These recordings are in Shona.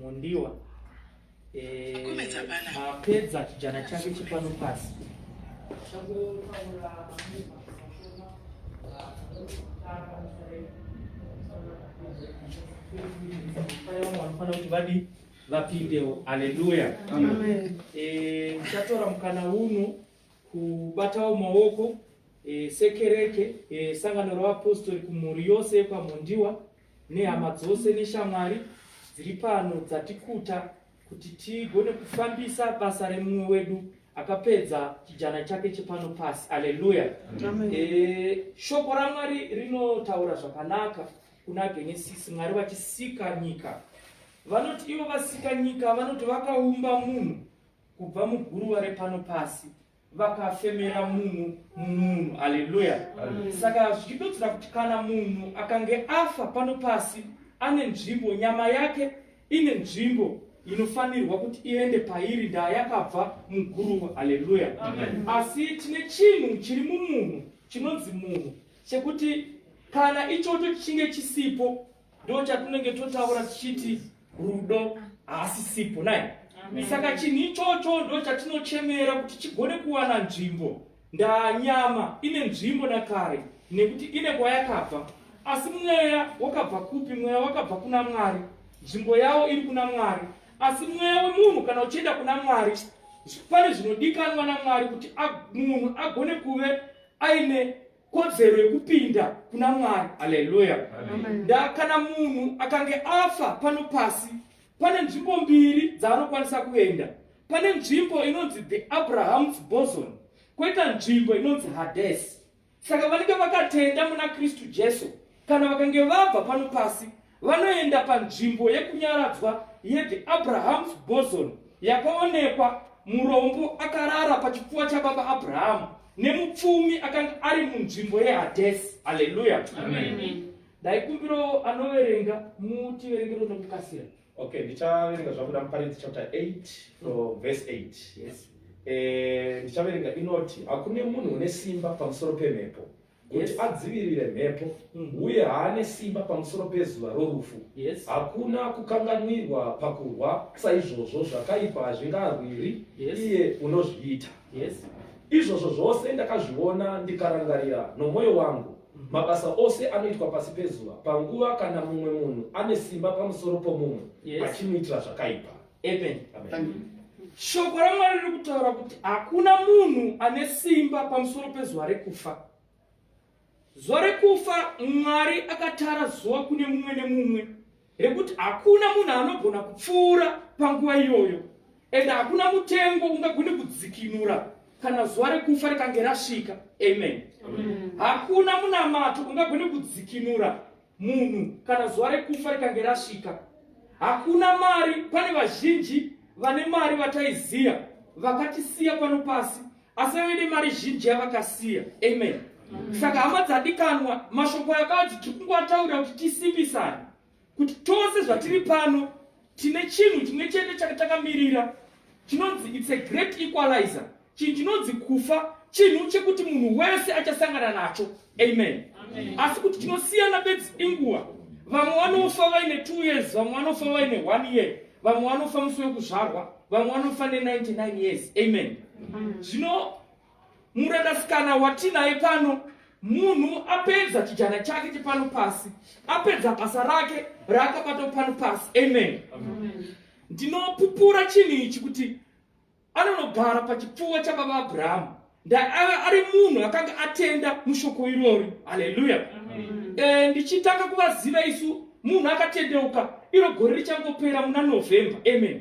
Mondiwa mapedza eh, chijana chake chepano pasi vanofanira kuti vadi vapindewo aleluya eh, tichatora mukana uno kubatawo maoko eh, sekereke sangano ravapostori kumhuri yose yekwamondiwa nehama dzose neshamwari dziri pano dzatikuta kuti tigone kufambisa basa remumwe wedu akapedza chijana chake chepano pasi aleluya e, shoko ramwari rinotaura zvakanaka kuna genesisi mwari vachisika nyika vanoti ivo vasika nyika vanoti vakaumba munhu kubva muguruva repano pasi vakafemera munhu munhu haleluya saka zvichidodzera kuti kana munhu akange afa pano pasi ane nzvimbo nyama yake ine nzvimbo inofanirwa kuti iende pairi ndaa yakabva muguruva haleluya asi tine chinhu chiri mumunhu chinonzi munhu chekuti kana ichocho chichinge chisipo ndo chatinenge totaura tichiti rudo haasi sipo nai saka chinhu ichocho ndo chatinochemera kuti chigone kuwana nzvimbo ndanyama ine nzvimbo nakare nekuti ine kwayakabva asi mweya wakabva kupi mweya wakabva kuna mwari nzvimbo yawo iri kuna mwari asi mweya wemunhu kana uchienda kuna mwari pane zvinodikanwa namwari kuti munhu agone kuve aine kodzero yekupinda kuna mwari aleluya ndakana munhu akange afa pano pasi pane nzvimbo mbiri dzaanokwanisa kuenda pane nzvimbo inonzi the abraham's boson kwoita nzvimbo inonzi hadesi saka vanenge vakatenda muna kristu jesu kana vakange vabva pano pasi Vanoenda panzvimbo yekunyaradzwa yeThe Abraham's Boson yakaonekwa murombo akarara pachipfuva chababa Abrahamu nemupfumi akanga ari munzvimbo yeHadesi. Haleluya! Ndaikumbirawo anoverenga mutiverengero nekukasira. Okay, ndichaverenga zvabuda muparidzi chapter 8 from verse 8. Yes. Eh, ndichaverenga inoti hakune munhu une simba pamusoro pemhepo kuti adzivirire mhepo mm. uye haane simba pamusoro pezuva rorufu hakuna kukanganwirwa pakurwa saizvozvo zvakaipa hazvingarwiri iye unozviita izvozvo zvose ndakazviona ndikarangarira nomwoyo wangu mm. mabasa ose anoitwa pasi pezuva panguva kana mumwe munhu ane simba pamusoro pomumwe achimuitira zvakaipa Amen. Amen. Shoko raMwari riri kutaura kuti hakuna munhu ane simba pamusoro pezuva rekufa. Zuva rekufa Mwari akatara zuva kune mumwe nemumwe rekuti hakuna munhu anogona kupfuura panguva iyoyo ende hakuna mutengo ungagone kudzikinura kana zuva rekufa rikange rasvika amen hakuna munamato ungagone kudzikinura Munhu kana zuva rekufa rikange rasvika, hakuna mari. Pane vazhinji vane mari vataiziya vakatisiya pano pasi, asi vave nemari zhinji yavakasiya. Amen. Saka hama dzadikanwa, mashoko yakadzi tiri kungowataurira kuti tisimbisane kuti tose zvatiri pano tine chinhu chimwe chete chakatakamirira chinonzi it's a great equalizer Chinhu chinonzi kufa chinhu chekuti munhu wese achasangana nacho. Amen. Asi kuti chinosiyana bedzi inguva. Vamwe vanofa vaine 2 years, vamwe vanofa vaine 1 year, vamwe vanofa musi wekuzvarwa, vamwe vanofa ne99 years. Amen. Zvino murandasikana watinaye pano munhu apedza chijana chake chepano pasi apedza basa rake raakabata pano pasi amen ndinopupura chinhu ichi kuti anonogara pachipfuva chababa abrahamu ndaaiva ari munhu akanga atenda mushoko irori haleluya eh, ndichitanga kuvaziva isu munhu akatendeuka iro gore richangopera muna november amen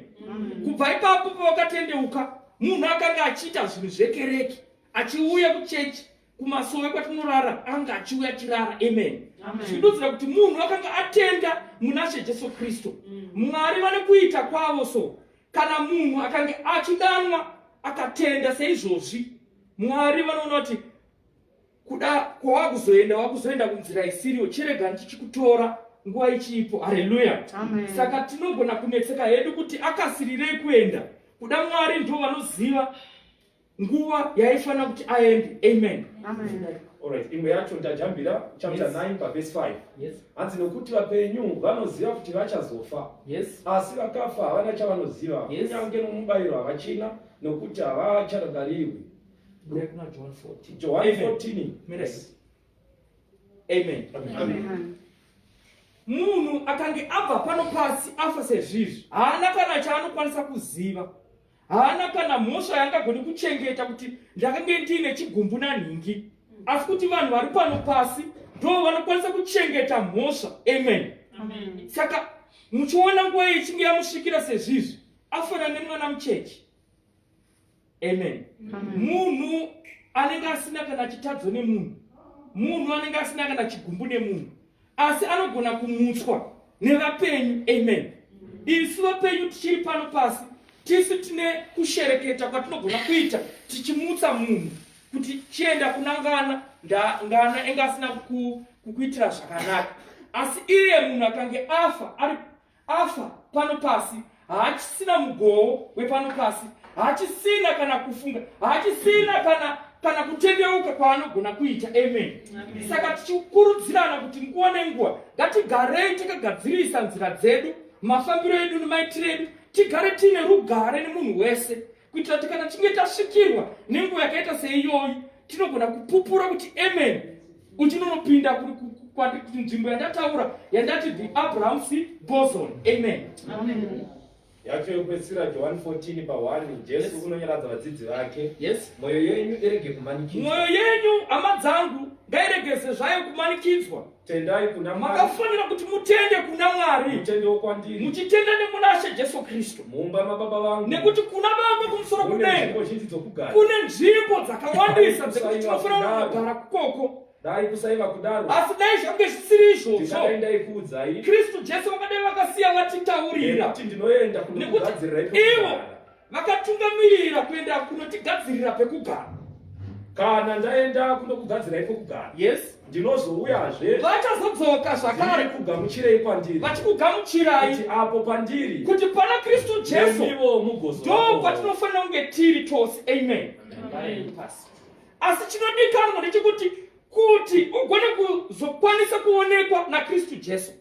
kubva ipapo pavakatendeuka munhu akanga achiita zvinhu zvekereke achiuya kuchechi kumasowe kwatinorara anga achiuya chirara amen zvidudzira kuti munhu akanga atenda muna she jesu kristu mm. mwari vane kuita kwavo so kana munhu akange achidanwa akatenda seizvozvi mwari vanoona kuti kuda kwava kuzoenda wava kuzoenda kunzira isiriyo chirega ndichikutora nguva ichiipo hareruya saka tinogona kunetseka hedu kuti akasirirei kuenda kuda mwari ndo vanoziva nguva yaifanira kuti aende amen, amen. Alright, imwe yacho ndajambira chapter yes. 9 pavhesi 5 yes. hanzi nokuti vapenyu vanoziva kuti vachazofa yes. asi vakafa havana chavanoziva yes. kunyange nomubayiro havachina nokuti havacharangarirwi johani 14 amen, amen. amen. amen munhu akange abva pano pasi afa sezvizvi haana kana chaanokwanisa kuziva haana kana mhosva yaangagoni kuchengeta kuti ndakange ndiine chigumbu nanhingi asi kuti vanhu vari pano pasi ndo vanokwanisa kuchengeta mhosva amen saka muchiona nguva ichinge yamusvikira sezvizvi afana nemwana muchechi amen munhu anenge asina kana chitadzo nemunhu munhu anenge asina kana chigumbu nemunhu asi anogona kumutswa nevapenyu amen isu vapenyu tichiri pano pasi tisu tine kushereketa kwatinogona kuita tichimutsa munhu kuti chienda kunangana ngana enge asina kukuitira zvakanaka asi iye munhu akange afa Afa pano pasi haachisina mugowo wepano pasi, haachisina kana kufunga, haachisina kana kana kutendeuka kwaanogona kuita amen saka tichikurudzirana kuti nguva nenguva ngatigarei takagadzirisa nzira dzedu mafambiro edu nemaitiro edu tigare tiine rugare nemunhu wese kuitira kuti kana tichinge tasvikirwa nenguva yakaita seiyoyi tinogona kupupura kuti amen uchinonopinda kuti nzvimbo yandataura yandati the abrahams boson amen, amen yacho yokupedzisira johani 14 pahwani jesu unonyaradza vadzidzi vake mwoyo yenyu irege kumanikidzwa mwoyo yenyu hama dzangu ngairegeze zvayo kumanikidzwa tendai kuna Mwari. Makafanira kuti mutende kuna Mwari. Mutendewo kwandiri. Muchitenda nemuna She Jesu Kristu. Mumba mababa vangu. Nekuti kuna Baba kumusoro kudenga. Kune nzvimbo dzakawandisa dzekuti tinofanira kugara kukoko. Dai kusaiva kudaro. Asi dai zvange zvisiri izvozvo. Ndingaenda ikuudzai. Kristu Jesu vakadai vakasiya vatitaurira. Nekuti ndinoenda kunokugadzirirai. Ivo vakatungamirira kuenda kunotigadzirira pekugara kana ndaenda kunokugadzirai pekugara yes ndinozouyazve vachazodzoka zvakare kugamuchirei kwandiri vachikugamuchirai kuti apo pandiri kuti pana kristu jesu ivo mugozo ndo kwatinofanira kunge tiri tose amen asi chinodikanwa ndechekuti kuti ugone kuzokwanisa kuonekwa nakristu jesu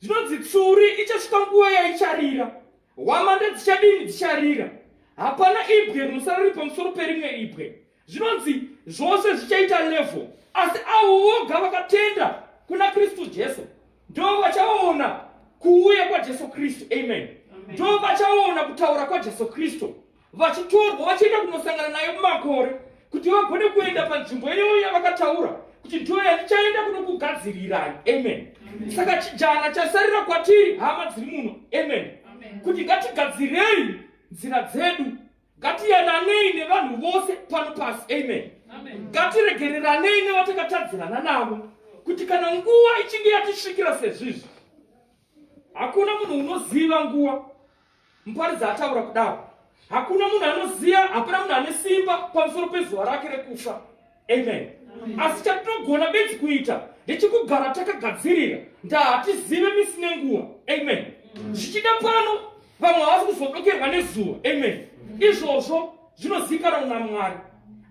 zvinonzi tsuri ichasvika nguva yaicharira hwamanda dzichadini dzicharira hapana ibwe rinosara riri pamusoro perimwe ibwe zvinonzi zvose zvichaita levho asi avo voga vakatenda kuna kristu jesu ndo vachaona kuuya kwajesu kristu amen ndo vachaona kutaura kwajesu kristu vachitorwa vachienda kunosangana nayo mumakore kuti vagone kuenda panzvimbo iyoyo yavakataura kuti ndiyo yandichaenda kunokugadzirirai amen saka chijana chasarira kwatiri hama dziri muno amen kuti ngatigadzirei nzira dzedu ngatiyananei nevanhu vose pano pasi amen ngatiregereranei nevatakatadzirana navo kuti kana nguva ichinge yatisvikira sezvizvi hakuna munhu unoziva nguva Muparidzi ataura kudaro, hakuna munhu anoziva, hapana munhu ane simba pamusoro pezuva rake rekufa. Amen. Asi chatinogona bedzi kuita ndechikugara takagadzirira ndaa hatizive misi nenguva. Amen. Zvichida pano vamwe havasi kuzodokerwa nezuva. Amen. Izvozvo zvinozivikanwa naMwari.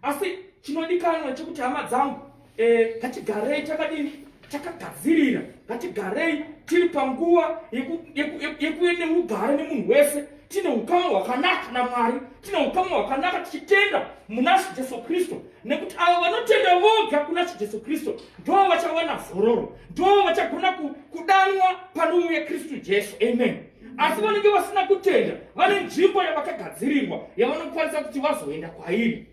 Asi chinodikanwa chekuti hama dzangu Eh, ngatigarei takadini takagadzirira ngatigarei tiri panguva yekuve neugare nemunhu wese tine ukama hwakanaka namwari tine ukama hwakanaka tichitenda muna shi jesu kristu nekuti avo vanotenda voga kuna shi jesu kristu ndoo vachawana zororo ndoo vachagona kudanwa panouya kristu jesu amen asi vanenge vasina kutenda vane nzvimbo yavakagadzirirwa yavanokwanisa kuti vazoenda kwairi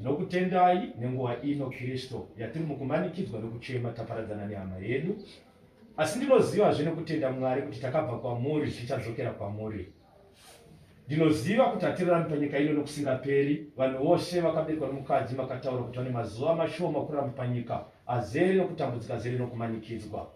Ndinokutendai nenguva ino Kristo yatiri mukumanikidzwa nokuchema taparadzana nehama yedu, asi ndinoziva zve nokutenda Mwari kuti takabva kwamuri zvichadzokera kwamuri. Ndinoziva kuti hatirarami panyika ino nokusingaperi. Vanhu vose vakaberekwa nomukadzi makataura kuti vane mazuva mashoma kuramba panyika azere nokutambudzika zere nokumanikidzwa.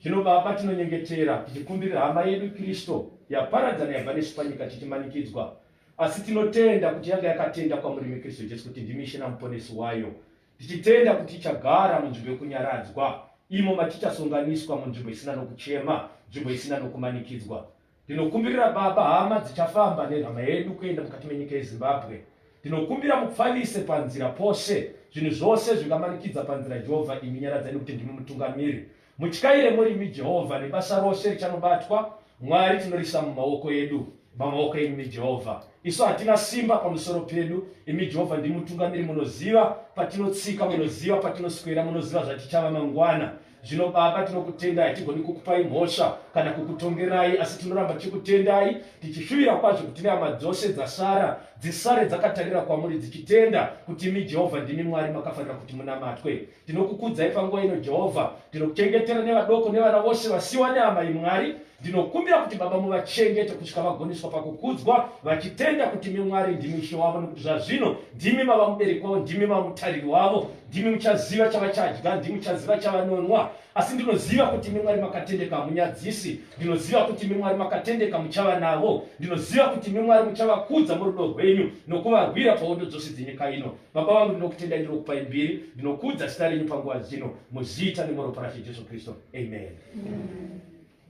Zvino Baba, tinonyengetera tichikumbirira hama yedu Kristo yaparadzana yabva nesu panyika tichimanikidzwa Asi tinotenda kuti yanga yakatenda kwamurimi Kristu Jesu kuti ndimi Ishe naMuponesi wayo, tichitenda kuti ichagara munzvimbo yokunyaradzwa, imo matichasonganiswa munzvimbo isina nokuchema, nzvimbo isina nokumanikidzwa. Ndinokumbirira Baba, hama dzichafamba nehama yedu kuenda mukati menyika yeZimbabwe. Ndinokumbira mupfavise panzira pose zvinhu zvose zvingamanikidza panzira Jehovha, imi nyaradzani kuti ndimi mutungamiri. Mutyaire murimi Jehovha nebasa rose richanobatwa Mwari tinorisa mumaoko edu mamaoko enyu imi Jehovha isu hatina simba pamusoro pedu imi Jehovha ndimutungamiri munoziva patinotsika munoziva patinoswera munoziva zvatichava mangwana zvino baba tinokutendai hatigoni kukupai mhosva kana kukutongerai asi tinoramba tichikutendai tichishuvira kwazvo kuti nehama dzose dzasara dzisare dzakatarira kwamuri dzichitenda kuti imi jehovha ndimi mwari makafanira kuti munamatwe Ndinokukudzai panguva ino Jehovha, ndinokuchengetera nevadoko nevana vose vasiwa neamai Mwari. Ndinokumbira kuti Baba muvachengete kusvika vagoniswa pakukudzwa, vachitenda kuti imi Mwari ndimi Ishe wavo, nokuti zvazvino ndimi mava mubereki wavo, ndimi mava mutariri wavo, ndimi muchaziva chavachadya, ndimi muchaziva chavanonwa. Asi ndinoziva kuti imi Mwari makatendeka, hamunyadzisi. Ndinoziva kuti imi Mwari makatendeka, muchava navo. Ndinoziva kuti imi Mwari muchavakudza murudo rwenyu nokuvarwira pahondo dzose dzenyika ino. Baba vangu, ndinokutendai, ndinokupai mbiri, ndinokuudza zita renyu panguva dzino, muzita nemoropa raShe Jesu Kristu. Amen.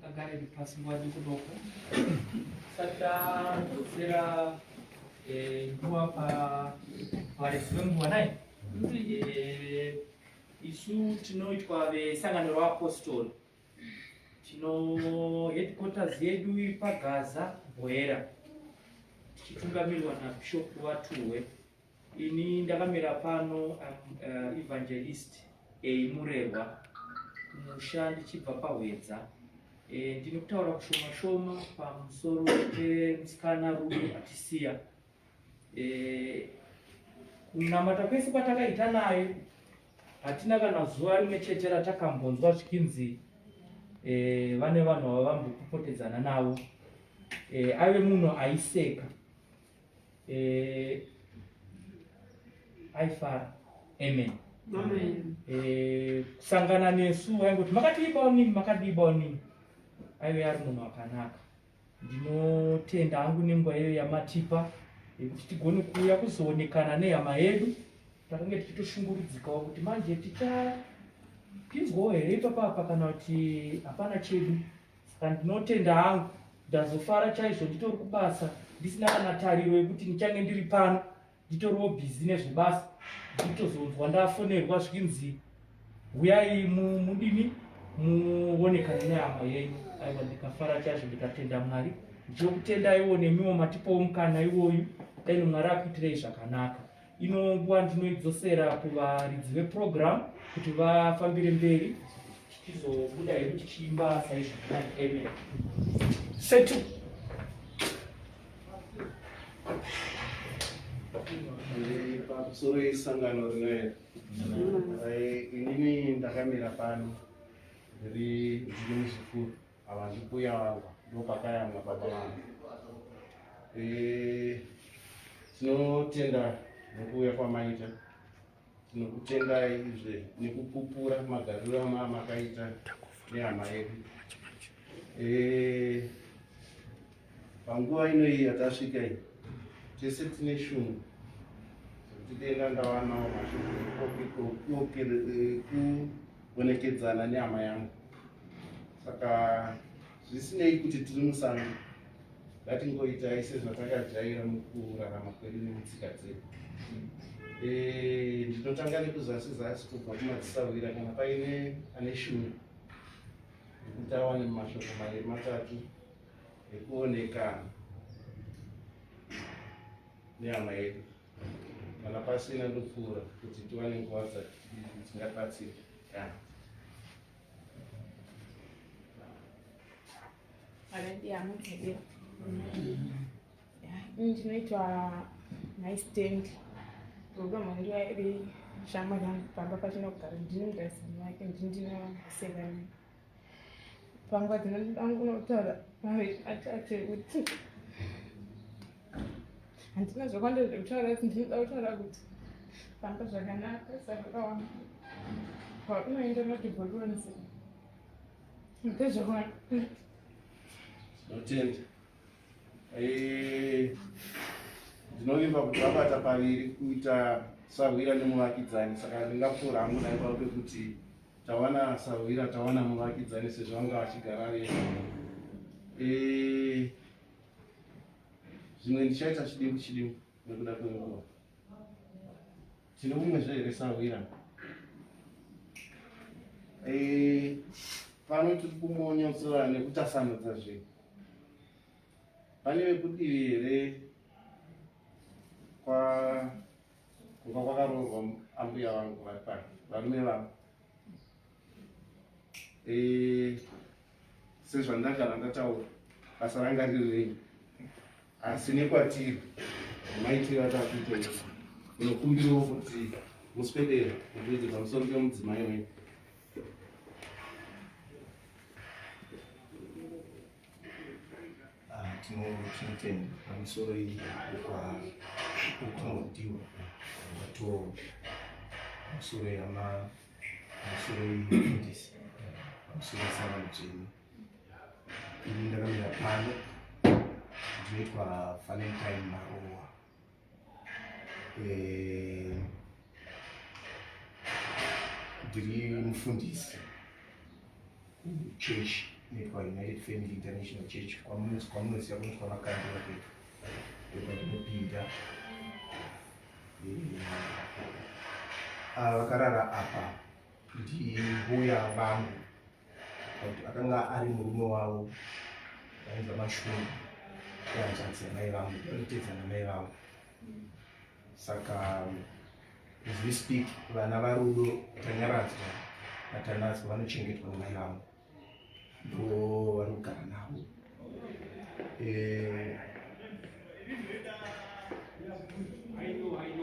Agare pasi nguva dikudoko. Saka kudzera eh, nguva pavaresi venguva naye eh, isu tinoitwa vesangano reapostori tino headquarters yedu iri pagaza bwera tichitungamirwa nabishopu vatuwe Ini ndakamira pano uh, evangelist eimurehwa musha ndichibva pahwedza e, ndine kutaura kushoma shoma pamusoro pemusikana rudo atisiya e, kunamata kwese kwatakaita naye hatina kana zuva rimwe chete ratakambonzwa zvikinzi e, vane vanhu vavambopopotedzana navo e, ave munhu aiseka eh, aifara amen eh, kusangana nesu aingoti makatiibawo nini makadiibawo nini aive ari munhu akanaka ndinotenda hangu nenguva iyo yamatipa yekuti tigone kuuya kuzoonekana nehama yedu takange tichitoshungurudzikawo kuti manje tichapinzwawo here ipapapa kana kuti hapana chedu Saka ndinotenda hangu ndazofara chaizvo nditori kubasa ndisina kana tariro yekuti ndichange ndiri pano nditoriwo bhizi nezvebasa nditozonzwa ndafonerwa zvikinzi huyai mudini muonekane nehama yenyu aiwa ndikafara chaizvo ndikatenda mwari ndichokutendaiwo nemiwo matipowo mukana iwoyu dai mwari akuitirei zvakanaka ino nguva ndinoidzosera kuvaridzi veprogramu kuti vafambire mberi tichizobuda hedu tichiimba saizvo amen setu pamusoro yesangano rinoera inini ndakamira pano ndiri ndiri muzukuru Ava ndimbuya vangu ndopakayamwa baba vangu. Eh, tinotenda nekuuya kwamaita tinokutendai izve nekupupura magariro ama makaita nehama yedu eh, Panguva ino iyi yatasvika iyi, tese tine shungu kuti denga ndawanawo mashoko ekuonekedzana eh, nehama yangu. Saka zvisinei kuti tiri musango, ngatingoitai sezvatakajaira mukurarama kwedu nemutsika dzedu. Eh, ndinotanga nekuzasi zasi kubva kumadzisahwira kana paine ane shungu kuti awane mashoko maviri matatu nekuonekana nehama yedu kana pasina ndopfuura kuti tiwane nguva dzingabatsira ndinoitwa naistendi rudo mwandiwa iri shama yangu pamba pachina kugara ndinogarisani yake ndindinosevana Pangwa dzinoda kunotaura maviri atate kuti handina zvakwanda zvekutaura kuti ndinoda kutaura kuti famba zvakanaka sakaona paunoenda notiboronzi ndezvaona notenda eh, ndinovimba kuti vabata paviri kuita sahwira nemuvakidzani saka ndingapfuura hangu naipavo pekuti Tawana sahwira tawana muvakidzani sezvo anga achigara vese. Eh zvimwe ndichaita chidimu chidimu nekuda kwenguva. Tine mumwe zve here sahwira? Eh pano tiri kumonyotsora nekutasanudza zvinhu. Pane vekudivi here kwa Kuka kwakaroorwa ambuya vangu vari pano varume vavo eh, sezvandagara ndataura basa ranga riri renyu asi nekwatiri maitiro atakuita unokumbirawo kuti muswedera mutoite pamusoro pemudzimai wenyu ah, tinotenda pamusoro ukunodiwa vato pamusoro yama pamusoro yefundisi pamusoro yesangano dzenu ini ndakamira pano ndinoitwa valentine marowa eh, ndiri mufundisi church nekwaunited family international church kwamunoziva kuti kwamakandira pedu ndopatinopinda eh, ah, vakarara apa ndihuya vangu kuti akanga ari murume wavo vainza mashungu kuhanzvadzi yamai vangu vanotedza namai vangu saka as we speak vana varudo tanyaradzwa vatanatswa vanochengetwa namai vangu ndo vari kugara navo eh,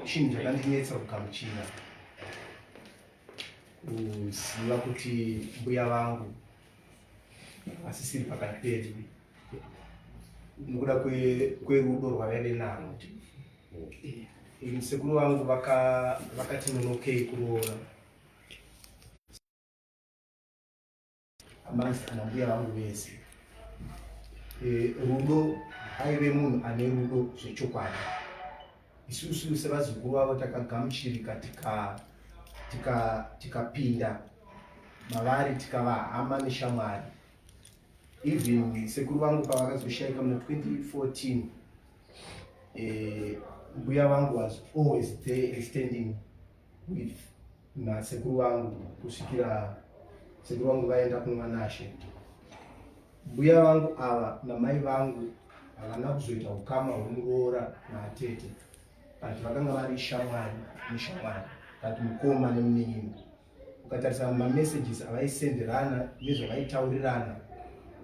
chinhu chakandinetsa kugamuchira kuziva kuti mbuya vangu vasisiri pakati pedu nokuda kwerudo rwavaive naro musekuru vangu vakati nonokei kuroora amasi kana mbuya vangu vese e, rudo aive munhu ane rudo zvechokwadi isusu sevazukuru vavo takagamuchirika tikapinda tika, tika mavari tikava hama neshamwari even sekuru vangu pavakazoshaika muna 2014 eh, mbuya vangu was always there standing with nasekuru vangu kusvikira sekuru vangu vaenda kunwanashe mbuya vangu ava namai vangu havana kuzoita ukama hwemuroora naatete but vakanga vari shamwari neshamwari but mukoma nemunin'ina ukatarisa mamessages avaisenderana nezvavaitaurirana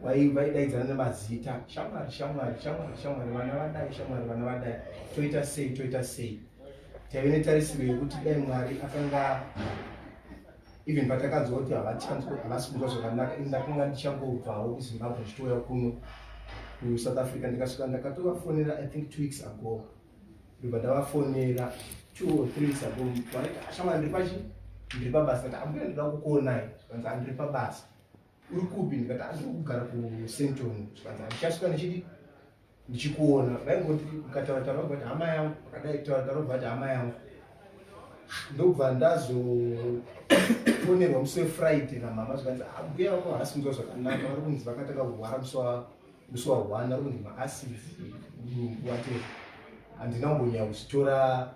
vaidaidzana nemazita shamwari shamwari shamwari shamwari vana vadai shamwari vana vadai toita sei toita sei taive netarisiro yekuti dai mwari akanga even patakanzwa kuti havachanzwa havasi kunzwa zvakanaka ini ndakanga ndichangobvawo kuzimbabwe ndichitouya kuno kusouth africa ndikasvika ndakatovafonera i think two weeks ago ndobva ndavafonera two or three weeks ago ashamwana ndiri pachi ndiri pabasa ndikati ambuya ndinoda kukuonai zvikanzi andiri pabasa uri kupi ndikati andiri kugara kusenton zvikanzi andichasvika ndichidi ndichikuona vaingoti ukataura taura kuti hama yangu akadai taura taura kuti hama yangu ndobva ndazofonerwa musi wefriday namama zvikanzi ambuya ah, vako havasi kunzwa zvakanaka vari kunzi vakatanga kurwara musi wa one vari kunzi maasidi mudumbu wate handina kumbonyaya kuchitora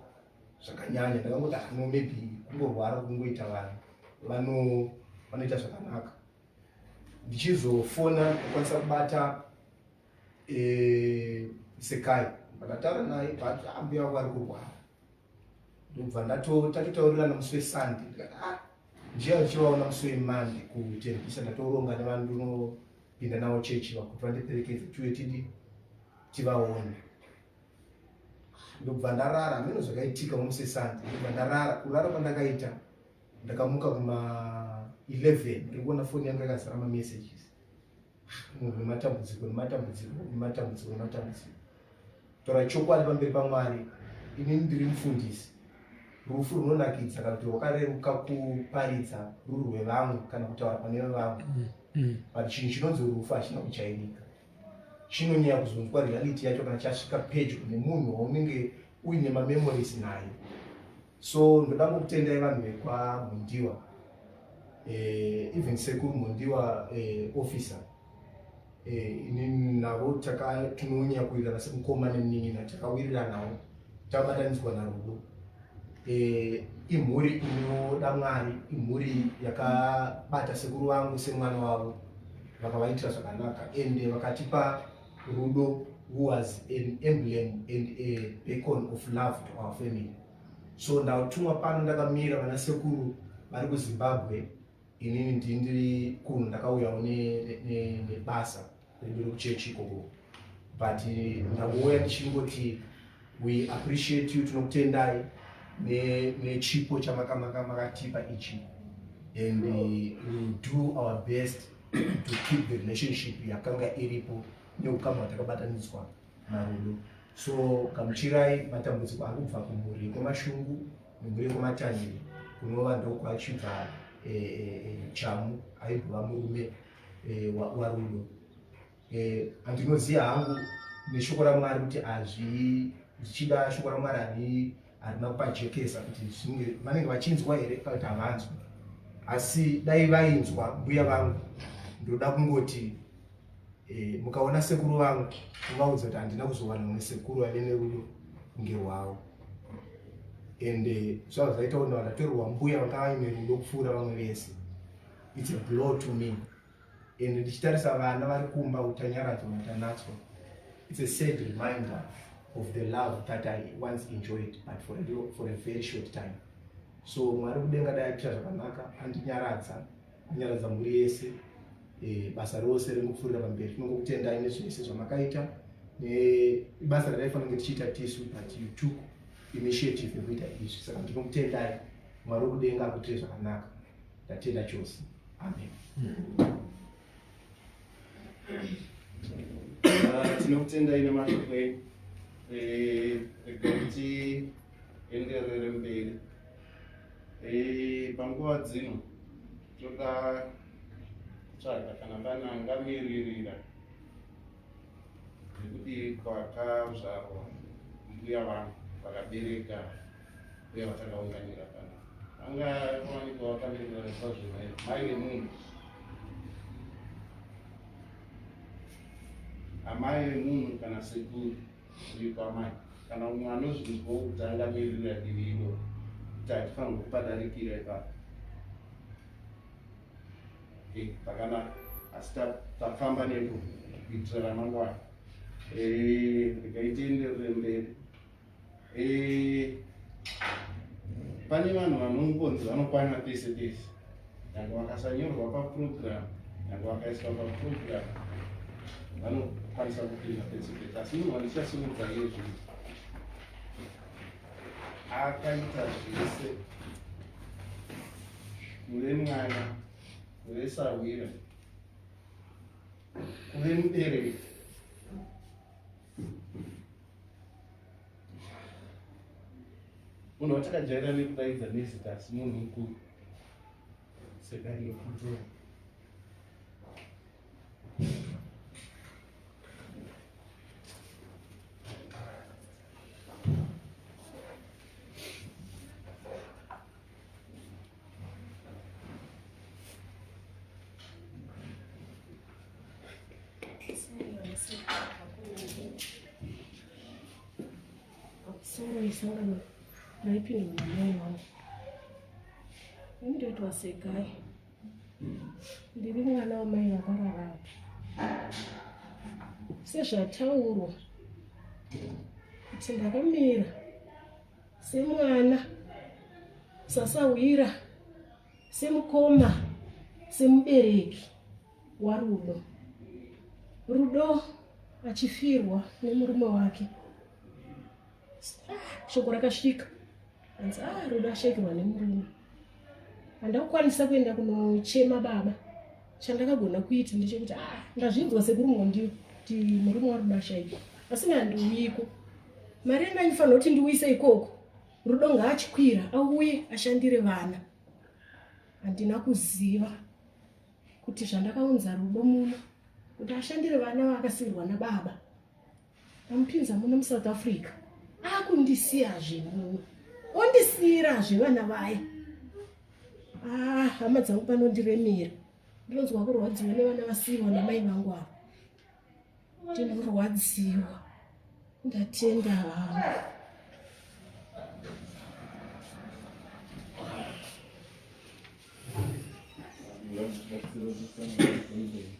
zvakanyanya ndakangoti hano ah, maybe kungorwara kungoita vanhu vano vanoita zvakanaka ndichizofona kukwanisa kubata eh, sekai ndakataura naye but ambuya ah, vari kurwara ndobva ndatotaurirana musi wesunday ndikati ah njiya ndichivaona musi wemonday kuteripisa ndatoronga nevanhu ndinopinda navo chechi vakuti vandiperekedze tiwe tidi tivaone ndobva ndarara hameno zvakaitika musi wesunday ndobva ndarara kurara kwandakaita ndakamuka kuma 11 ndikuona foni yangu yakazara mamessages munhu nematambudziko nematambudziko nematambudziko nematambudziko tora chokwadi pamberi pamwari inini ndiri mufundisi rufu runonakidza kana kuti rwakareruka kuparidza ruri rwevamwe kana kutaura pane vevamwe mm, mm. but chinhu chinonzi rufu hachina kujairika chinonyaya kuzonzwa reality yacho kana chasvika pedyo nemunhu waunenge uine mamemories naye so ndoda kukutendai vanhu vekwamhundiwa eh, even sekuru mhundiwa eh, officer eh, inini navo tinonyanya kuwirirana semukoma nemuninina takawiriranawo tabatanidzwa narudo eh, imhuri inoda mwari imhuri yakabata sekuru vangu semwana wavo vakavaitira zvakanaka ende vakatipa Rudo who was an emblem and a beacon of love to our family. So ndatumwa pano ndakamira vana sekuru vari kuZimbabwe inini ndindiri kuno ndakauyawo nebasa redu rekuchechi ikoko but ndangouya ndichingoti We appreciate you, tinokutendai nechipo ne chamakamakatipa ichi and uh, we will do our best to keep the relationship yakanga iripo neukama hwatakabatanidzwa narudo so gamuchirai matambudziko ari kubva kumhuri kwemashungu nemhuri kwematangiri kunova ndokwachibva eh, eh, eh, chamu aimbova murume warudo eh, andinoziva hangu neshoko ramwari kuti azvi zvichida shoko ramwari ani harina kupajekesa kuti zvinge vanenge vachinzwa here kana kuti havanzwi asi dai vainzwa mbuya vangu ndoda kungoti e, mukaona sekuru vangu muvaudza kuti handina kuzowana mune sekuru vave nerudo kunge rwavo and eh, zvava zvaita kuti vakatorerwa mbuya vanga vaine rudo kupfuura vamwe vese its a blow to me and ndichitarisa vana vari kumba utanyaradzwa matanatswa it's a sad reminder of the love that i once enjoyed but for a, little, for a very short time so mwari kudenga dai aita zvakanaka andinyaradza anyaradza mhuri yese e, basa rose ringopfuurira pamberi tinongokutendai nezvese zvamakaita nebasa rataifanira kunge tichiita tisu but you took initiative yekuita izvi saka ndinokutendai mwari wekudenga akuitire zvakanaka ndatenda chose Amen. Ah, tinokutendai nemashoko enyu eh, kuti enderere mberi eh, panguva dzino toda kutsvaga kana pane angamiririra nekuti kwakazvarwa mbuya vangu vakabereka uye vatakaunganira pano vanga vawanikwa vakambirirana kwazvo mai vemunhu amai vemunhu kana sekuru uri kwamai kana umwe anozvinzwa kuti angamiririra divi iro kuti hatifanirwa kupadarikira ipapo pakanaka asi tafamba nepo kuitira ramangwana ndikaitenderere mberi Eh, pane vanhu vanongonzi vanokwana pese pese nyangwe vakasanyorwa paprogram nyangwe vakaiswa paprogram vanokwanisa kupinda pese pese asi munhu wandichasimudza yezvi akaita zvese kuve mwana kuve sahwira kuve mubereki munhu watakajaira nekudaidza nezita asi munhu mukuru sedai nekutora Sorry, sorry. Naipinda mwanai wangu. Ini ndoitwa segai. Ndiri mwana wamai vakararama. Sezvataurwa kuti ndakamira semwana sasahwira semukoma semubereki warudo rudo achifirwa nemurume wake ah, shoko rakasvika anzi ah rudo ashaikirwa nemurume handakukwanisa kuenda kunochema baba chandakagona kuita ndechekuti a ah, ndazvinzwa sekuri mondii kuti murume warudasha ii asi nandiuyiko mari yanga andifanira kuti ndiuyise ikoko rudo ngaachikwira auye ashandire vana handina kuziva kuti zvandakaunza rudo muno kuti ashandire vana vaakasirwa nababa Ndamupinza muno muSouth Africa akundisiyazve muno ondisiyirazve vana vaya ah, hama dzangu panondiremera ndinonzwa kurwadziwa nevana vasiyiwa namai vangu ava ndinorwadziwa ndatenda hangu Thank you.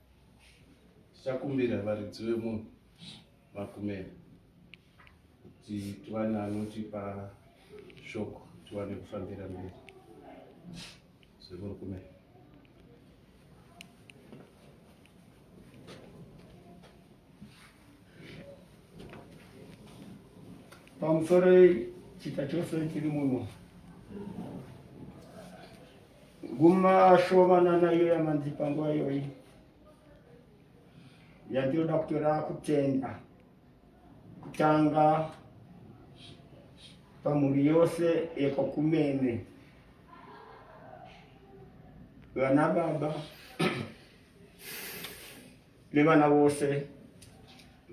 tichakumbira varidzi vemunhu makumera kuti tiwane anotipa shoko tiwane kufambira mberi zvemurikumera pamusoro chita chose chiri muno guma shomanana iyo yamanzi panguva iyoyi yandinoda kutora kutenda kutanga pamhuri yose yekwa kumene vana baba nevana vose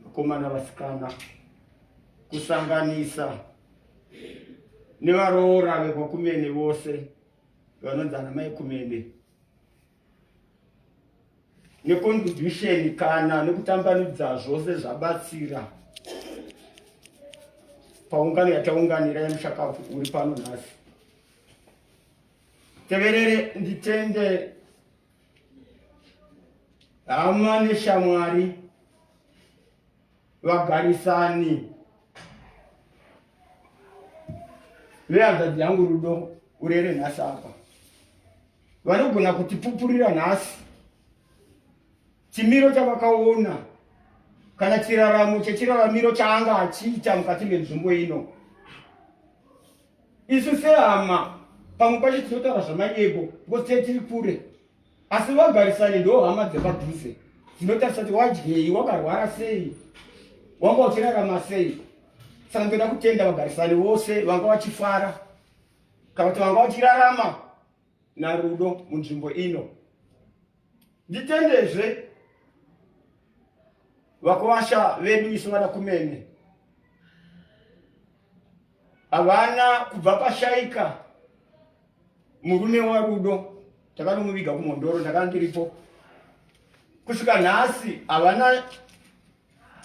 vakomana vasikana kusanganisa nevaroora vekwakumene vose vanonzi ana mai kumene necontribution kana nekutambanudza zvose zvabatsira paungano yataunganira yemushakafu uri pano nhasi teverere nditende hama neshamwari vagarisani vehanzvadzi yangu rudo urere nhasi apa vanogona kutipupurira nhasi chimiro chavakaona kana chiraramo chechiraramiro chaanga achiita mukati menzvimbo ino isu sehama pamwe pacho tinotaura zvamanyebo because tee tiri kure asi vagarisani ndo hama dzepadhuze dzinotarisa kuti wadyei wakarwara sei wanga uchirarama sei saka ndoda kutenda vagarisani vose vanga vachifara kana kuti vanga vachirarama narudo munzvimbo ino nditendezve vakwasha vedu isu vana kumene havana kubva pashaika murume warudo takanomuviga kumhondoro ndakandiripo kusvika nhasi havana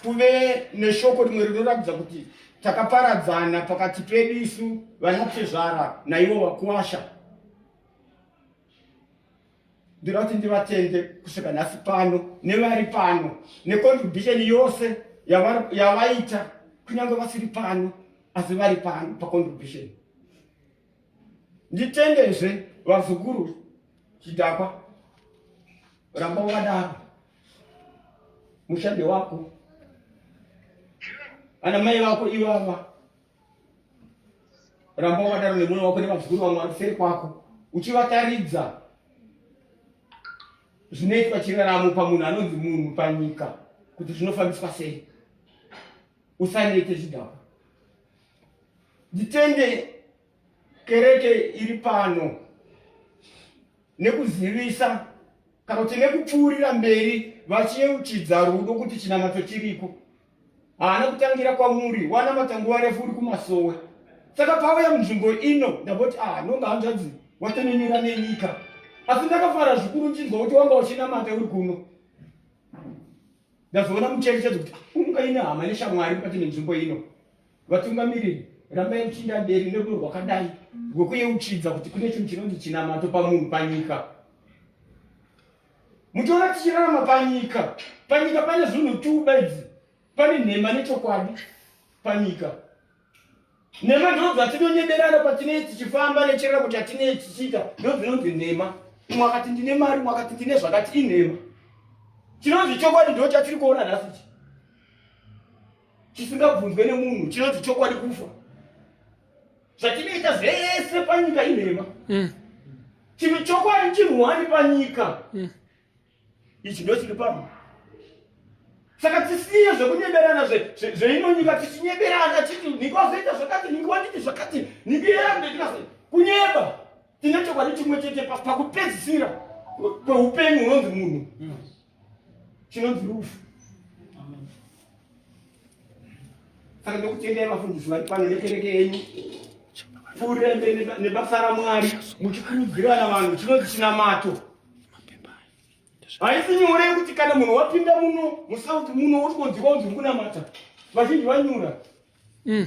kuve neshoko rimwe rinoratidza kuti takaparadzana pakati pedu isu vanatezvara naivo vakuwasha ndira kuti ndivatende kusvika nhasi pano nevari pano necontribution yose yavaita kunyange vasiri pano asi vari pano pacontribution nditendezve vazukuru chidhakwa ramba wakadaro mushande wako ana mai vako ivava ramba wakadaro nemwana wako nevazukuru vamwe vari kuseri kwako uchivataridza zvinoitwa chiraramo pamunhu anonzi munhu panyika kuti zvinofambiswa sei usanete zvidhakwa nditende Kereke iri pano nekuzivisa kana kuti nekupfuurira mberi vachiyeuchidza rudo kuti chinamato chiriko haana kutangira kwamuri wanamata nguva refu uri kumasowe saka pauya munzvimbo ino ndamboti ah nonga hanzvadzi watonenera nenyika asi ndakafara zvikuru ndinzwa kuti wanga uchinamata uri kuno ndazoona mucherechedzo kuti ah, unga ine hama neshamwari mukati nenzvimbo ino Vatungamiriri, rambai muchinda mberi nerudo rwakadai rwekuyeuchidza kuti kune chinhu chinonzi chinamato pamunhu panyika. Muchiona tichirarama panyika, panyika pane zvinhu two bedzi, pane nhema nechokwadi panyika. Nhema ndoo dzatinonyeberana patinei tichifamba necherera kuti atinei tichiita ndoo dzinonzi nhema. Umwe akati ndine mari, umwe akati ndine zvakati inhema. Chinonzi chokwadi ndoo chatiri kuona nhasi ichi. chisingabvunzwe nemunhu chinonzi chokwadi kufa zvatinoita zvese panyika inhema mm. chinhu chokwadi chinhuwani panyika mm. ichi ndo chiri pano saka tisiye zvekunyeberana zveino nyika tichinyeberana chiti niko azoita zvakati niko wanditi zvakati niko yeandetinas kunyeba tine chokwadi chimwe chete pakupedzisira kweupenyu hunonzi munhu mm. chinonzi rufu saka ndokutendai vafundisi vari pano nekereke yenyu kurembe nebasa ramwari muchikurudzirana vanhu chinonzi chinamato haisi nyore yekuti kana munhu wapinda muno musauti muno wotikonzika unzi uri kunamata vazhinji vanyura mm.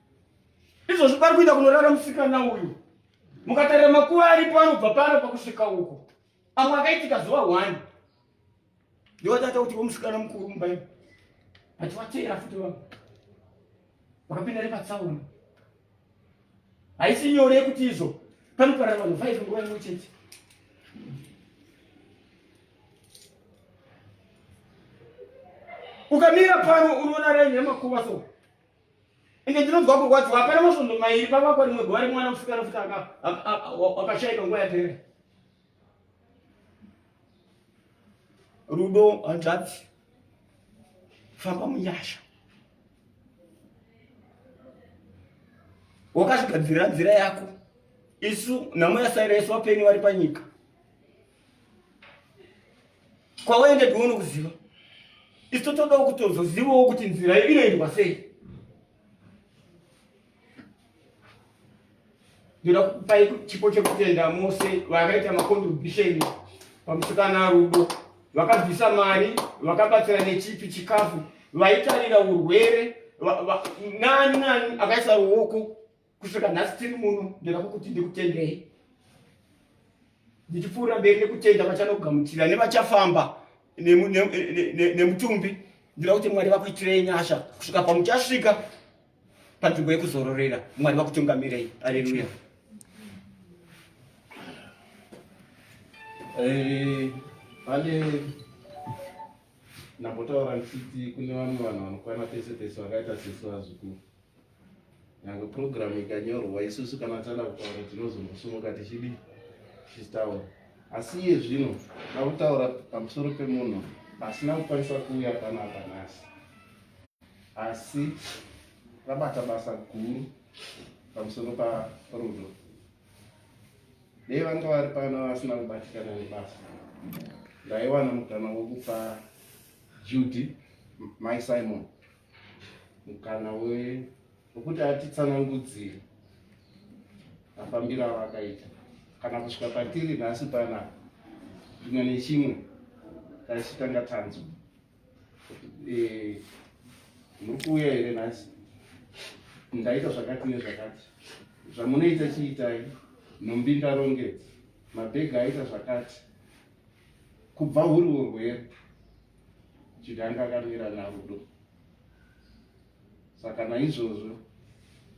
izvozvi pari kuita kunorara musikana uyu mukatarira makuva aripo anobva pano pakusvika uko amwe akaitika zuva one ndiwatata kuti womusikana mukuru mumbai achivateera futi vanhu vakapinda nepatsaona haisi nyore yekuti izvo panoparara vanhu five nguva imwe chete ukamira pano unoona raini yamakuva so ende ndinonzwa kurwadziwa hapana masvondo mairi pavakwa rimwe gore mwana kusvika rafita wakashaika nguva yapere rudo hanzvadzi famba munyasha wakazvigadzirira nzira yako isu nhamo yasaira isu vapenyu vari panyika kwawaenda tione kuziva isu totodawo kutozozivawo kuti nzira iyo inoendwa sei ndoda kupai chipo chekutenda mose vakaita makontribhusheni pamusikana rudo vakabvisa mari vakabatsira nechipi chikafu vaitarira urwere nani nani akaisa ruoko kusvika nhasi tiri muno ndoda kukuti ndikutendei ndichipfuura mberi nekutenda vachanogamuchira nevachafamba nemutumbi ndoda kuti mwari vakuitirei nyasha kusvika pamuchasvika panzvimbo yekuzororera mwari vakutungamirei aleluya eh, pane ndambotaura ndichiti kune vamwe vanhu vanokwana pese pese vakaita sesu vazukuru Nyangwe program ikanyorwa isusu kana tana kutaura tinozongosumuka tichidi tichitaura. Asi iye zvino ndakutaura pamusoro pemunhu asina kukwanisa kuuya kana apa nhasi. Asi rabata basa guru pamusoro pa rudo. Dei vanga vari pano vasina kubatikana nebasa. Ndaiwana mukana wokupa Judy, my Simon. mukana wekuti atitsanangudzire mafambiro avakaita kana kusvika patiri nhasi pana zvimwe nechimwe taisitanga tanzo eh, muri kuuya here nhasi ndaita zvakati nezvakati zvamunoita chiitai nhumbi ndarongedza mabhega aita zvakati kubva huri urwere chiti anga akamira narudo saka naizvozvo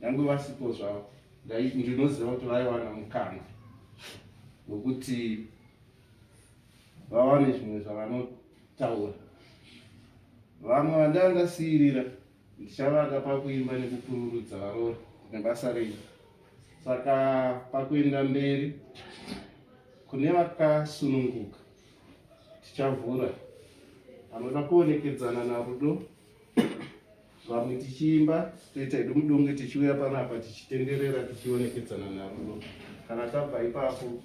nyange vasipo zvavo ndinoziva kuti vaiwana mukana wekuti vawane zvimwe zvavanotaura vamwe vandandasiirira ndichavaka pakuimba nekupururudza varoora nebasa renyu saka pakuenda mberi kune vakasununguka tichavhura anoda kuonekedzana narudo vamwe tichiimba toita hedu mudunge tichiuya panapa tichitenderera tichionekedzana narudo kana tabva ipapo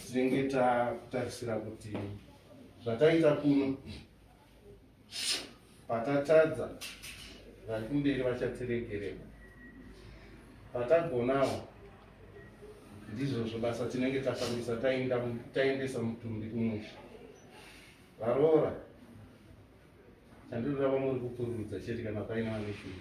tinenge takutarisira kuti zvataita kuno Patatadza, vari kumberi vachatiregerera. Patagonawo, ndizvozvo basa tinenge tafambisa taendesa mutumbi kumusha. Varoora, chandinoda vamuri kupururudza chete kana paine vaneshungu.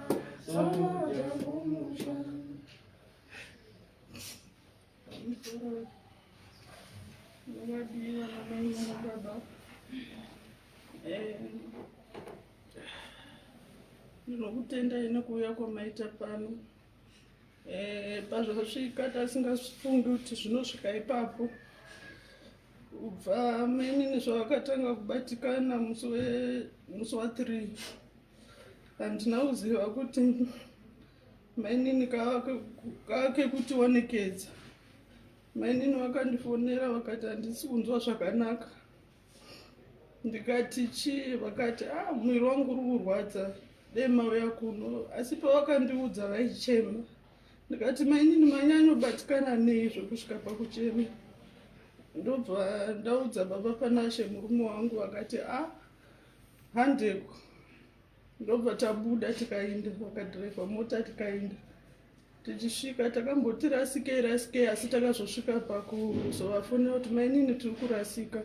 ndinokutendai nekuuya kwamaita pano eh, pazvasvika tasingafungi kuti zvinosvika ipapo kubva mainini zvavakatanga kubatikana musi wa three handina kuziva kuti mainini kakekuti wanekedza mainini vakandifonera vakati handisi kunzwa zvakanaka ndikati chii vakati a ah, mwiri wangu uri kurwadza dei mauya kuno asi pavakandiudza vaichema ndikati mainini manyanyobatikana nei zvekusvika pakuchema ndobva ndaudza baba panashe murume wangu vakati a ah, handeko ndobva tabuda tikainda vakadhiraivha mota tikainda tichisvika takamboti rasikei rasikei asi takazosvika pakuzovafonera kuti mainini tiri kurasika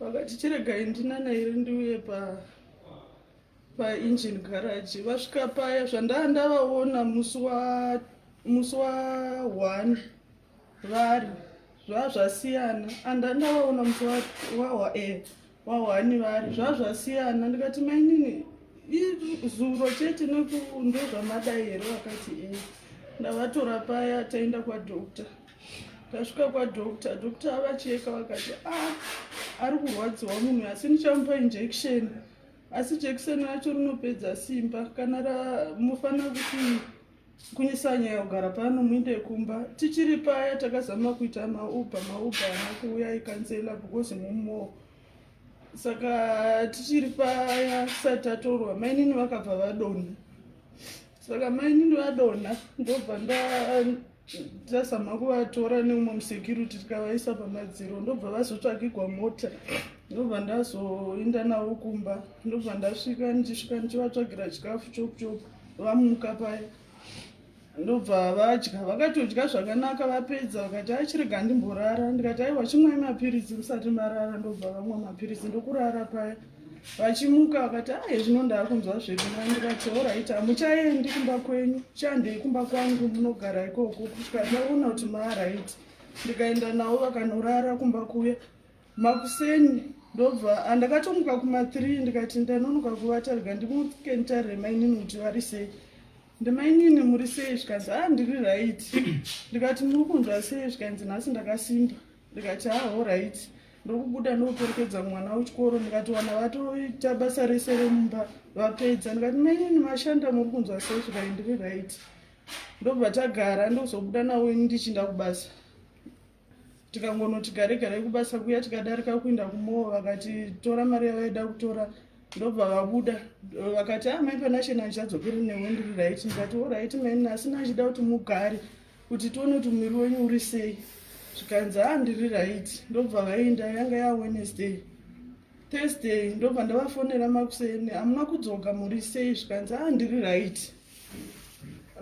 vakati chiregai ndinana iri ndiuye pa paengine garage vasvika paya zvandaa ndavaona musi wa musi wa one vari zvazvasiyana andandavaona musi wa wa eh, wahwani vari zvazvasiyana ndikati mainini zuro chete ndozvamadai here vakati e ndavatora paya taenda kwadokta tasvika kwadokta dokta avacheka vakati a ah, ari kurwadziwa munhu asi ndichamupa injection asi jekiseni racho rinopedza simba kana mufana kuti kunyisanya yagara pano muinde kumba tichiri paya takazama kuita mauba mauba ana kuuya ikansela because mumo saka tichiri paya tisati tatorwa mainini vakabva vadonha saka mainini vadonha ndobva ndazama kuvatora neumwe musecurity tikavaisa pamadziro ndobva vazotsvakigwa mota ndobva ndazoinda navo kumba ndobva ndasvika ndichisvika ndichivatsvagira chikafu chokuchoku vamuka paye ndobva vadya vakatodya zvakanaka vapedza vakati achirega ndimborara ndikati aiwa chimwai mapiritsi musati marara ndobva vamwa mapiritsi ndokurara paya vachimuka vakati aye zvino ndaakunzwa zvedu mai ndikati oraiti hamuchaendi kumba kwenyu chandei kumba kwangu munogara ikoko kusvika ndaona kuti maaraiti ndikaenda navo vakanorara kumba kuya makuseni ndobva andakatomuka kuma 3 ndikati ndanonoka kuvata rega ndimuke nditarire mainini kuti vari sei ndimainini muri sei zvikanzi a ah, ndiri right ndikati muri kunzwa sei zvikanzi nhasi ndakasimba ndikati haho ah, right ndokubuda ndokuperekedza mwana wechikoro ndikati wana vatoita basa rese remumba vapedza ndikati mainini mashanda muri kunzwa sei zvikai ndiri right ndobva tagara ndozobuda nawo ini ndichinda kubasa tikangonoti gare gare kubasa kuya tikadarika kuinda kumoo vakati tora mari yavaida kutora ndobva vabuda vakati a ah, mai panashe nandichadzokeri newe ndiri raiti ndikati o raiti maini asi nandichida kuti mugare kuti tione kuti muviri wenyu uri sei zvikanzi a ah, ndiri raiti ndobva vainda yanga ya wednesday thursday ndobva ndavafonera makuseni hamuna kudzoka muri sei zvikanzi a ah, ndiri raiti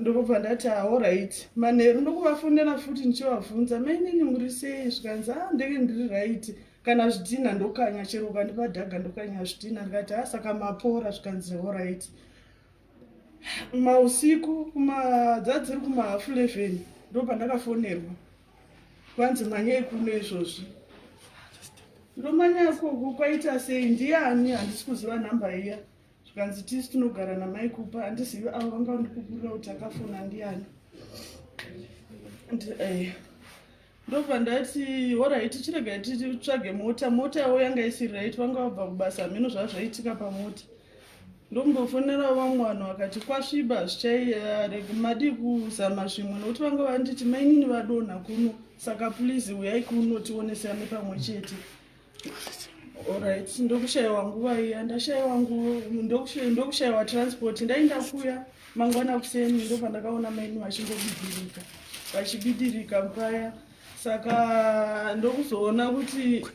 ndokubva ndati aoright ah, manheru ndokuvafonera futi ndichivabvunza mainini muri sei zvikanzi a ah, ndenge ndiri right kana zvidhina ndokanya chero ukandipa dhaga ndokanya zvidhina ndikati a ah, saka mapora zvikanzi oright mausiku kumadzadziri kumahafu 11 ndo pandakafonerwa kwanzi manyai kuno izvozvi ndomanyako kwaita sei ndiani handisi kuziva nhamba iya zvikanzi tisu tinogara namai kupa handizivi avo vanga ndikukurira kuti akafona ndiani eh, ndobva ndati horaiti chiregai titsvage mota mota yavo yanga isiri raiti vanga vabva kubasa hameno zvazvaitika pamota ndombofonera vamwe vanhu vakati kwasviba zvichairegumadii eh, kuzama zvimwe nokuti vanga vanditi mainini vadonha kuno saka plizi uyai kuno tionesane pamwe chete Alright, ndokushaiwa nguva iya, ndashaiwa nguva, ndokushaiwa transport, ndainda kuya mangwana kuseni ndopandakaona maini vachingobidirika vachibidirika paya saka ndokuzoona kuti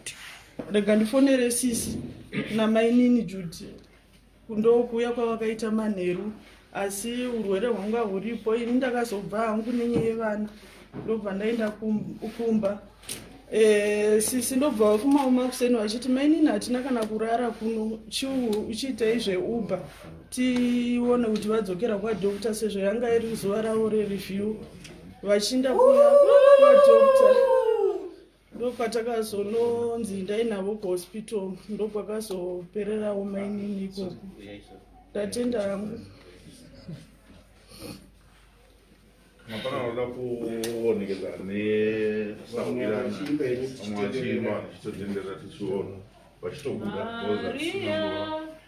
rega ndifonere sisi namainini judi kundokuuya kwavakaita manheru asi urwere hwanga huripo ini ndakazobva hangu nenye yevana ndobva ndaenda kumba eh, sisi ndobva vakumauma kuseni vachiti mainini hatina kana kurara kuno uchiitei zveuber tione kuti vadzokera kwadokta sezvo yanga iri zuva ravo rereview vachinda kuya kwadokta ndopatakazononzi ndai navo kuhospital ndokwakazopererawo mainini ikoko ndatenda hangu mapana anoda kuonekeza neamwachimba vachitotenderera tichiona vachitobuda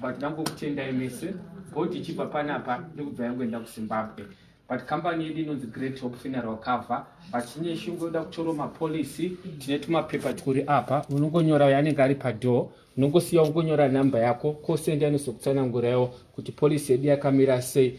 but ndambokutendai mese god ichibva panapa ndikubva yangoenda kuzimbabwe but kambani yedu inonzi great hope funeral cover but tine shungu yoda kutorwa mapolisi tine tumapepa twuri apa unongonyora uyo anenge ari padoor unongosiya ungonyora nhamba yako kosende anozokutsananguraiwo kuti polisi yedu yakamira sei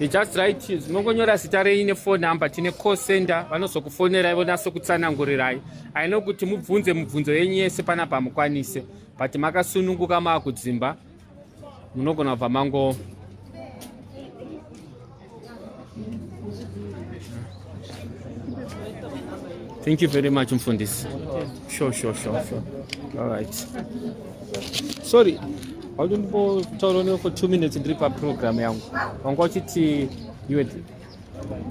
You just write zvinongonyora zita renyu nephone number tine call center vanozokufonerai vonase kutsanangurirai aino kuti mubvunze mubvunzo yenyu yese panapa mukwanise but makasununguka maakudzimba munogona kubva mango Thank you very much mfundisi. Sure, sure, sure, sure. All right. Sorry. Why don't you for two minutes and drip up program yangu. Wanga uchiti you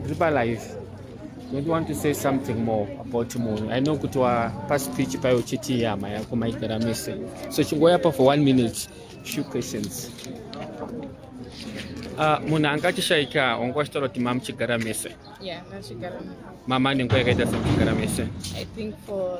Ripalive, don't want to say something more about munhu i know kuti wapaspeech payo uchiti hama yako maigara mese so chingoyapa for one minute few questions uh, ah, munhu anga achishaika wanga wachitaura kuti mama chigara mese mama nenguva yakaita sekuchigara mese I think for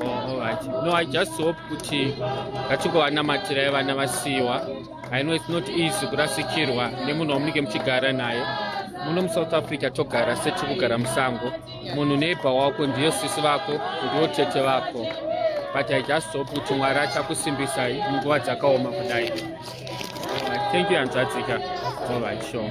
Oh, no i just hope kuti ngatingovanamatira vana vasiyiwa i know its not easy kurasikirwa nemunhu wamunenge muchigara naye muno musouth africa togara setikugara musango munhu neighbor wako ndiyo sisi vako ndiwo tete vako but i just hope kuti mwari achakusimbisai munguva dzakaoma kudai thank you hanzvadzika all right sure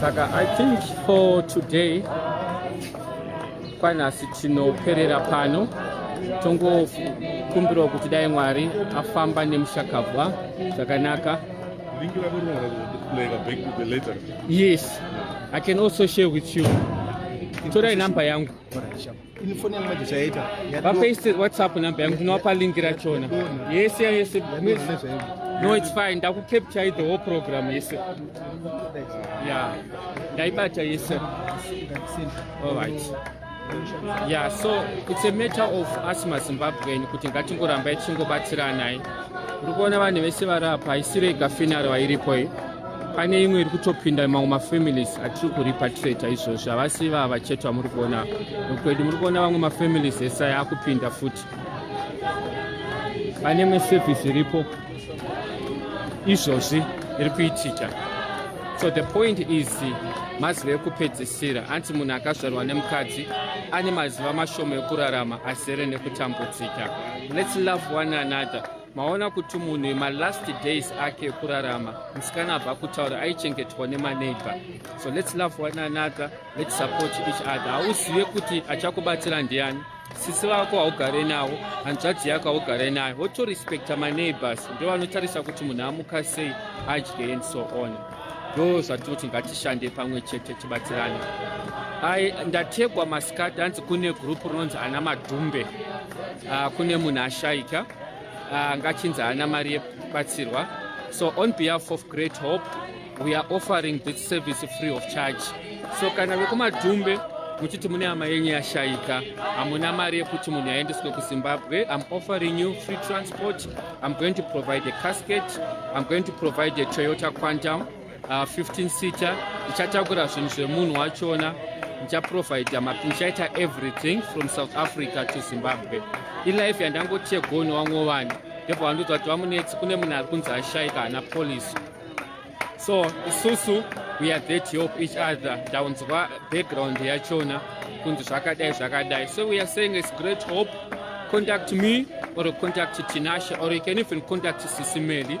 saka i think for today kwanhasi tinoperera pano tongokumbirawo kuti dai mwari afamba nemushakabwa zvakanaka yes i can also share with you torai number yangu vapaise whatsapp number yangu ndinowapa lingi rachona yese yese no its fine ndakukapture the whole program yese ya ndaibata yese alright ya so its a matter of us mazimbabweni kuti ngatingorambai tichingobatsiranai uri kuona vanhu vese vari apa haisirega finaro vairipo iyi pane imwe iri kutopinda mamwe mafamilies atiri kuripatrata izvozvo havasi vava chete vamuri kuona kwedu muri kuona vamwe mafamilies ese aya akupinda futi pane imwe service iripo izvozvi iri kuitika so the point is mazuva ekupedzisira anti munhu akazvarwa nemukadzi ane mazuva mashoma ekurarama asere nekutambudzika lets love one another maona kuti munhu malast days ake ekurarama musikana abva kutaura aichengetwa nemaneighbor so lets love one another lets support each other hauzive kuti achakubatsira ndiani sisi vako haugare navo hanzvadzi yako haugare nayo wotorespekta maneighbors ndo vanotarisa kuti munhu amuka sei adye and so on ndo zvatinoti ngatishande pamwe chete tibatsirane ai ndategwa masikati hanzi kune group rinonzi ana madhumbe uh, kune munhu ashaika uh, ngachinzi haana mari yekubatsirwa so on behalf of great hope we are offering this service free of charge so kana vekumadhumbe muchiti mune hama yenyu yashaika hamuna mari yekuti munhu yaendeswe kuzimbabwe im offering you free transport im going to provide a casket im going to provide a toyota quantum uh, 15 seater ndichatakura zvinhu zvemunhu wachona ndichaprovidha ndichaita everything from south africa to zimbabwe ilife yandangotiye goni wangovani ndebva vandoudza kuti vamunetsi kune munhu ari kunzi ashaika hana policy so isusu we are there to help each other ndaunzwa background yachona kunzi zvakadai zvakadai so we are saying is great hope contact me or contact tinasha or you can even contact sisimeli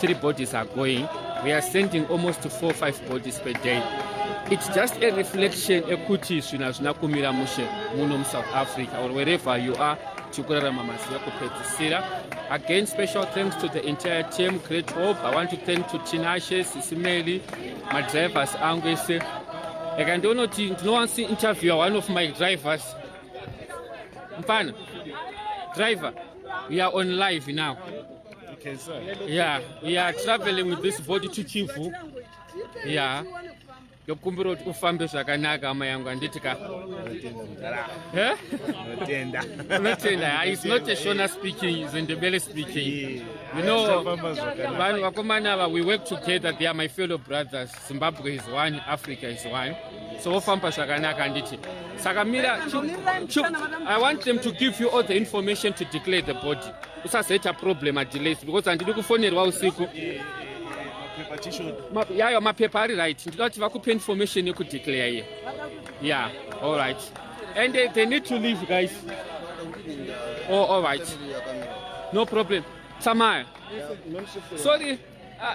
three bodies are going we are sending almost to four five bodies per day it's just a reflection ekuti zvinhu hazvina kumira mushe muno musouth africa or wherever you are tikurarama mazuva kupedzisira again special thanks to the entire team great hope i want to thank to tinashe sisimeli madrivers angu ese aka ndionoti ndinowansi interviewer one of my drivers mfana driver we are on live now Okay, sir. Yeah, we are traveling with this boat to Chifu. Yeah. ndokumbira kuti ufambe zvakanaka hama yangu handiti ka unotenda eh? is not a shona speaking is ndebele speaking you know vanhu vakomana ava we work together they are my fellow brothers Zimbabwe is one, Africa is one. So wofamba zvakanaka handiti. Saka mira I want them to give you all the information to declare the body. Usazoita problem a delays because handidi kufonerwa usiku. Yayo mapepa ari right. Ndinoda kuti vakupe information yekudeclare here. Yeah, all right. And they, they need to leave guys. Oh, all right. No problem. Samaya. Sorry. Uh,